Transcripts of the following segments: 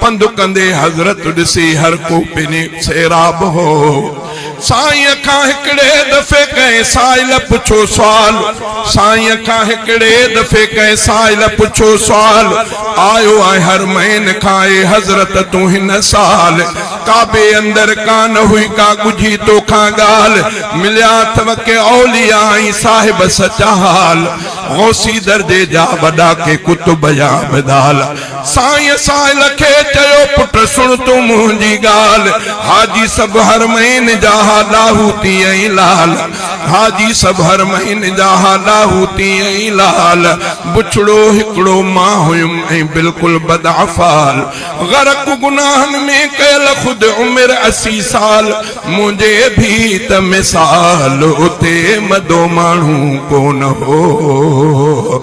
پنڌ ڪندي حضرت ڏسي هر ڪو پني سيراب هو. سائينء کان هڪڙي دفعي ڪنهن سائل پڇيو سوال سائينء کان هڪڙي دفعي ڪنهن سائل پڇيو سوال آيو آهي حرمين کان اي حضرت تون هن سال ڪعبي اندر ڪانه هئي ڪا ڳجهي تو کان ڳالهه مليا اٿو ڪي اولياء ۽ صاحب سچا حال غوثي درجي جا وڏا ڪي قطب يا ابدال سائين سائل کي چيو پٽ سڻ تون منهنجي ڳالهه، حاجي سڀ حرمين جا ها لاهوتي ۽ لعل، حاجي سڀ حرمين جا ها لاهوتي ۽ لعل، بڇڙو هڪڙو مان هيم ۽ بلڪل بد افعال، غرق گناهن ۾ ڪيل خود عمر اسي سال، منهنجي ڀيت مثال اتي مدو ماڻهو ڪونه هو.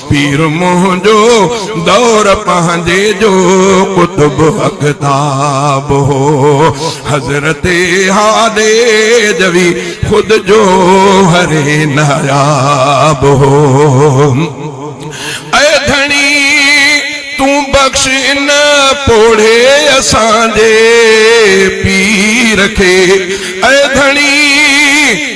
پير منهنجو دور پنهنجي جو قطب اقطاب هو حضرت هادي جوي خود جو هري ناياب هو اي ڌڻي تون بخش ان پوڙهي اسان جي پير کي اي ڌڻي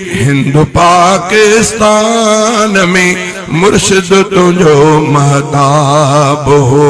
هند پاڪستان ۾ مرشد تنهنجو مهتاب هو.